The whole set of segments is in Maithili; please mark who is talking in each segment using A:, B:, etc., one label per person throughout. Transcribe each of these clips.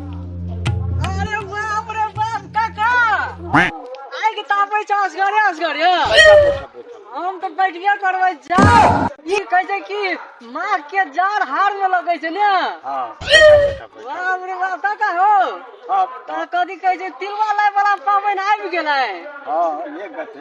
A: अरे बाप रे बाप काका आइ के तापै छ असगरे असगरे हम त बैठबे करबै जा ई कहै छै कि माँ के जार हार में लगै छै ने हाँ
B: बाप
A: रे बाप काका हो हाँ त
B: कथी कहै
A: छै तिलवा लाय वाला पाबनि आबि गेलै हाँ ये
B: गति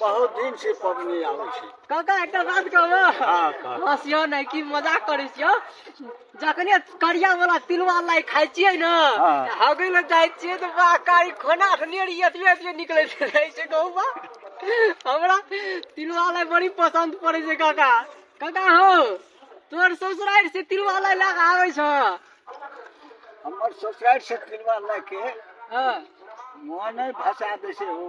B: बहुत दिन से पबनी आबै छै काका एकटा बात
A: कहबो हाँ कह हँसियो
B: नहि कि
A: मजाक करै छियो जखने करिया वाला तिलवा लाई खाइ छियै ने हाँ। तऽ हगै लए जाइ छियै तऽ बा कारी खोना ठनियर एतबे एतबे निकलै छै रहै छै गहुँमा हमरा तिलवा लाई बड़ी पसन्द पड़ै छै काका काका हो तोर ससुरारि से तिलवा लाई लए कऽ आबै छ
B: हमर ससुरारि से तिलवा लए के हँ
A: मोने
B: भसा दै छै ओ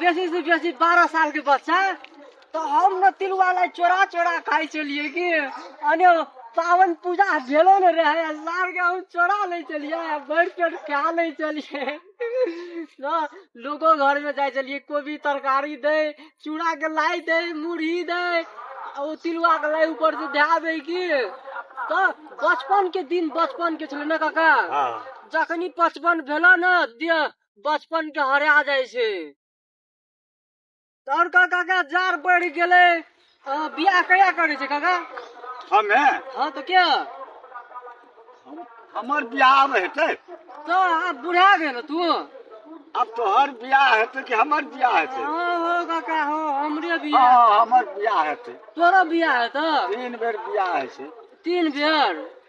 A: बेसी से बेसी बारह साल के बच्चा तो हम न तिलुआ ला चोरा चोरा खाई चलिए कि अने पावन पूजा भेलो न रहे सार के हम चोरा ले चलिए भर पेट खा ले चलिए न लोगो घर में जाए चलिए कोबी तरकारी दे चूड़ा के लाई दे मुरही दे आ ओ तिलुआ के लाई ऊपर से ध्या दे कि तो बचपन के दिन बचपन के छलै न काका हाँ जखनी
B: पचपन
A: भेलो न दिया बचपन के हरा जाय छै तोर का काका जार बढ़ गेले अ, बियाह कहिया करे छै काका हमे
B: हाँ तो क्या हमर बियाह आब हेतै तो आप
A: बुढ़ा गए ना तू आब
B: तोहर बियाह हेतै कि हमर बियाह हेतै हाँ हो काका हो
A: हमरे हँ बियाह हँ, हमर बियाह
B: हेतै तोरो बियाह है तो
A: तीन बेर बियाह
B: होइ छै तीन बेर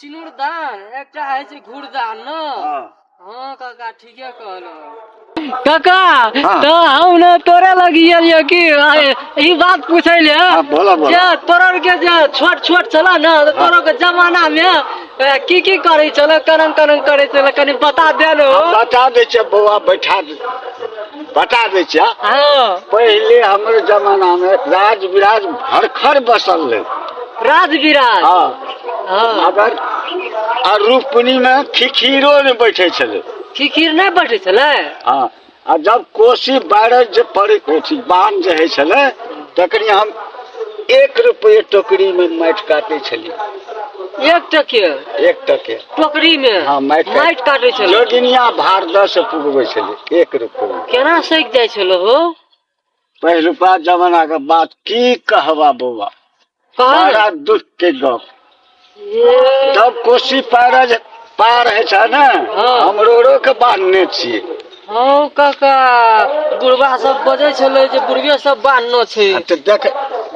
A: सिनुरदान एकटा होइ छै घुरदान ने हाँ हँ काका ठीके कहलहुँ काका हाँ। तऽ हम ने तोरे लगी एलियै कि आइ ई बात पूछै ले हाँ, बोलो, बोलो। जे तोरर के जे छोट छोट छल ने तऽ तोरो के जमाना मे ए, की की करै छल करन करन करै छल कनि बता दे ने हम बता दै छियै बौआ
B: बैठा दे बता दै छियै हँ पहिले
A: हमर
B: जमाना में राज विराज भरखर बसल रहे राजविराज
A: हाँ हाँ
B: अगर आ रूपनी में खिखीरो ने बैठे छले खिखीर नहि बैठे
A: छलै हाँ आ
B: जब कोसी बारह जे पड़े कोसी बान जे है छले तकरी हम एक रुपये टोकरी में माटि काटे छलिए एक टके
A: एक टके टोकरी मे हाँ माटि माटि काटे
B: छलै
A: जोगिनिया भारदह
B: से पुगबे छले एक रुपये केना सैक जाइ
A: छलो हो पहिलुका
B: जमाना के बात की कहबा बौआ कहाँ रे? बड़ा दुख के गप ये जब कोसी पार जे- पार है छै ने हाँ। हम रोरो के बांधने छियै हौ
A: काका बुढ़वा सब बजै छलै जे बुढ़वे सब बान्हनो छै आ तऽ देख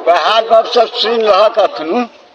B: वएह गप सब सुनि रहक अखनु